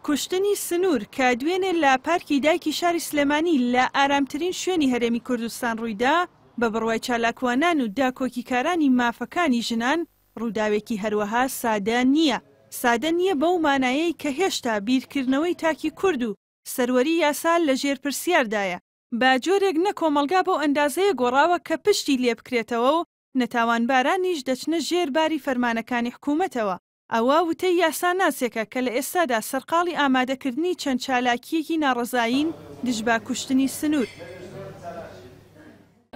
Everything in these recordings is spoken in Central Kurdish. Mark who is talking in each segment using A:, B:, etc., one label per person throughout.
A: کوشتنی سنوور کە دوێنێ لە پارکی دایکی شاری سلێمانی لە ئارامترین شوێنی هەرێمی کوردستان ڕوویدا، بە بڕوای چالاکوانان و داکۆکیکارانی مافەکانی ژنان، ڕووداوێکی هەروەها سادە نییە. سادە نییە بەو مانایەی کە هێشتا بیرکردنەوەی تاکی کورد و سەروەری یاسا لە ژێر پرسیاردایە. بە جۆرێک نە کۆمەڵگا بەو ئەندازەیە گۆڕاوە کە پشتی لێبکرێتەوە و نەتاوانبارانیش دەچنە ژێر باری فەرمانەکانی حکوومەتەوە، ئەوە وتەی یاساناسێکە کە لە ئێستادا سەرقاڵی ئامادەکردنی چەند چالاکییەکی ناڕەزایین دژبە کوشتنی سنوور.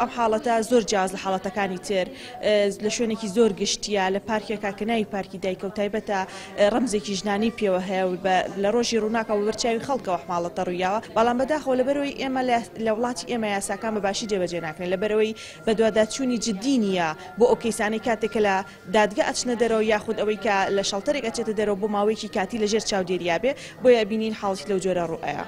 B: ئەم حاڵەتە زۆر جیاواز لە حاڵەتەکانی تر، لە شوێنێکی زۆر گشتییە، لە پارکێکە کە ناوی پارکی دایکە و تایبەتە، ڕەمزێکی ژنانەی پێوە هەیە و لە ڕۆژی ڕووناکەوە بەبەر چاوی خەڵکەوە ئەم حاڵەتە ڕوویاوە، بەڵام بەداخەوە لەبەرئەوەی ئێمە لە وڵاتی ئێمە یاساکان بە باشی جێبەجێ ناکرێن، لەبەرئەوەی بەدواداچوونی جدی نییە بۆ ئەو کەیسانەی کاتێک کە لە دادگە ئەچنە دەرەوە یاخود ئەوەی کە لە شەڵتەرێک ئەچێتە دەرەوە بۆ ماوەیەکی کاتی لە ژێر چاودێریا بێ بۆیە ئەبینین حاڵی لەو جۆرە ڕوئەیا.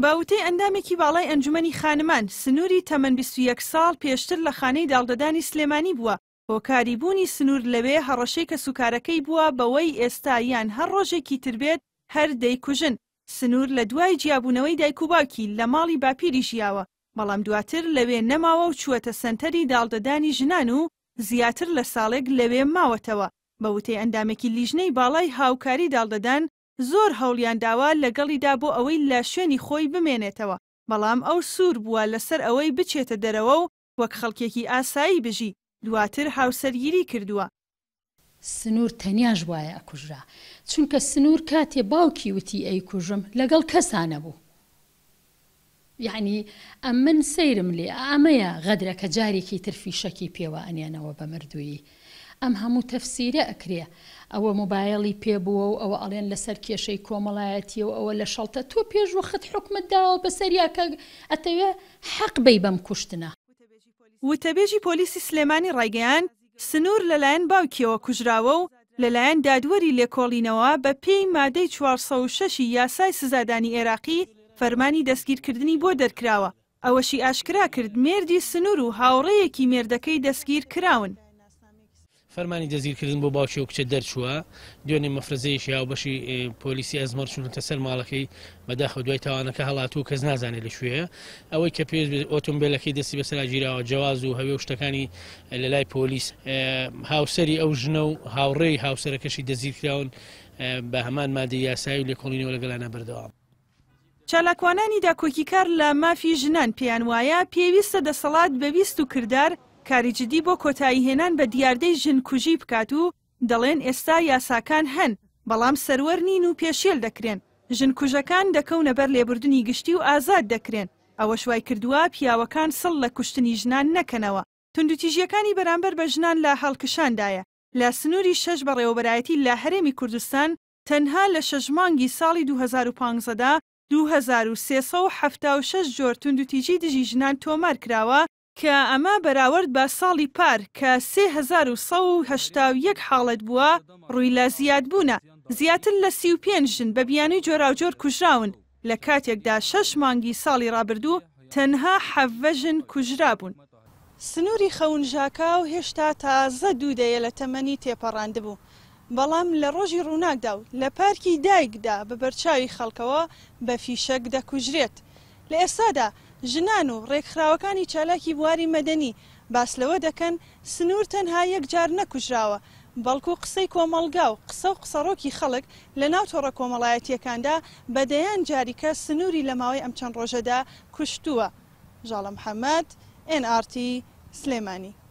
A: بە وتەی ئەندامێکی باڵای ئەنجومەنی خانمان، سنووری تەمەن بیست و یەک ساڵ پێشتر لە خانەی داڵدەدانی سلێمانی بووە، هۆکاری بوونی سنوور لەوێ هەڕەشەی کەسوکارەکەی بووە بەوەی ئێستا یان هەر ڕۆژێکی تر بێت هەر دەیکوژن، سنوور لە دوای جیابوونەوەی دایک و باوکی لە ماڵی باپیری ژیاوە، بەڵام دواتر لەوێ نەماوە و چووەتە سەنتەری داڵدەدانی ژنان و زیاتر لە ساڵێک لەوێ ماوەتەوە، بە وتەی ئەندامێکی لیژنەی باڵای هاوکاری داڵدەدان زۆر هەوڵیان داوە لەگەڵیدا بۆ ئەوەی لە شوێنی خۆی بمێنێتەوە، بەڵام ئەو سوور بووە لەسەر ئەوەی بچێتە دەرەوە و وەک خەڵکێکی ئاسایی بژی، دواتر هاوسەرگیری کردووە. سنور
C: تەنیاش بوایە ئەکوژرا چونکە سنور کاتێ باوکی وتی ئەیکوژم لەگەڵ کەسا نەبوو یەعنی ئەمن سەیرم لێ ئەمەیە غەدرەکە جارێکی تر فیشەکی پێوە ئەنێنەوە بە مردوویی ئەم هەموو تەفسیرە ئەکرێ ئەوە موبایەڵی پێ بووە و ئەوە ئەڵێن لەسەر کێشەی کۆمەڵایەتیە و ئەوە لەشەڵتە تۆ پێش وەخت حوکمت داوە بەسەریا کە ئەتەوێ حەق بەی بەم کوشتنە. وتەبێژی
A: پۆلیسی سلێمانی ڕایگەیاند، سنوور لەلایەن باوکییەوە کوژراوە و لەلایەن دادوەری لێکۆڵینەوە بە پێی مادەی چوار سەد و شەش ی یاسای سزادانی ئێراقی فەرمانی دەستگیرکردنی بۆ دەرکراوە، ئەوەشی ئاشکرا کرد، مێردی سنوور و هاوڕێیەکی مێردەکەی دەستگیر کراون.
D: فەرمانی دەستگیرکردن بۆ باوکی ئەو کچە دەرچووە، دوێنێ مەفرەزەیەکی هاوبەشی پۆلیسی ئەزمەڕ چوونەتە سەر ماڵەکەی، بەداخەوە دوای تاوانەکە هەڵاتووە و کەس نازانێت لە کوێیە، ئەوەی کە پێویست بێت ئۆتۆمبێلەکەی دەستی بەسەراگیراوە، جواز و هەوێ و شتەکانی لەلای پۆلیس، هاوسەری ئەو ژنە و هاوڕێی هاوسەرەکەشی دەستگیرکراون بە هەمان مادەی یاسایی و لێکۆڵینەوە لەگەڵیانە بەردەوامە. چالاکوانانی
A: داکۆکیکار لە مافی ژنان پێیان وایە پێویستە دەسەڵات بە ویست و کردار کاری جدی بۆ کۆتاییهێنان بە دیاردەی ژن کوژی بکات و دەڵێن ئێستا یاساکان هەن بەڵام سەروەر نین و پێشێل دەکرێن، ژن کوژەکان دەکەونە بەر لێبوردنی گشتی و ئازاد دەکرێن، ئەوەش وایکردووە پیاوەکان سڵ لە کوشتنی ژنان نەکەنەوە. توندوتیژییەکانی بەرامبەر بە ژنان لە هەڵکشاندایە، لە سنووری شەش بەڕێوەبەرایەتی لە هەرێمی کوردستان تەنها لە شەش مانگی ساڵی دوو هەزار و پانزە دا دوو هەزار و سێ سەد و حەفتا و شەش جۆر توندوتیژی دژی ژنان تۆمار کراوە، کە ئەمە بەراورد بە ساڵی پار کە سێ هەزار و سەد و هەشتا و یەک حاڵەت بووە، ڕووی لە زیادبوونە. زیاتر لە سی و پێنج ژن بە بیانووی جۆراوجۆر کوژراون، لە کاتێکدا شەش مانگی ساڵی ڕابردوو تەنها حەڤە ژن کوژرابوون. سنووری خەون ژاکاو هێشتا تازە دوو دەیە لە تەمەنی تێپەڕاندبوو، بەڵام لە ڕۆژی ڕووناکدا و لە پارکی دایکدا بە بەرچاوی خەڵکەوە بە فیشەک دەکوژرێت. لە ئێستادا ژنان و ڕێکخراوەکانی چالاکی بواری مەدەنی باس لەوە دەکەن، سنوور تەنها یەک جار نەکوژراوە، بەڵکو قسەی کۆمەڵگا و قسە و قسەڕۆکی خەڵک لە ناو تۆڕە کۆمەڵایەتییەکاندا بە دەیان جاری کە سنووری لە ماوەی ئەم چەند ڕۆژەدا کوشتووە. ژاڵە محەمەد، ئێن ئاڕ تی، سلێمانی.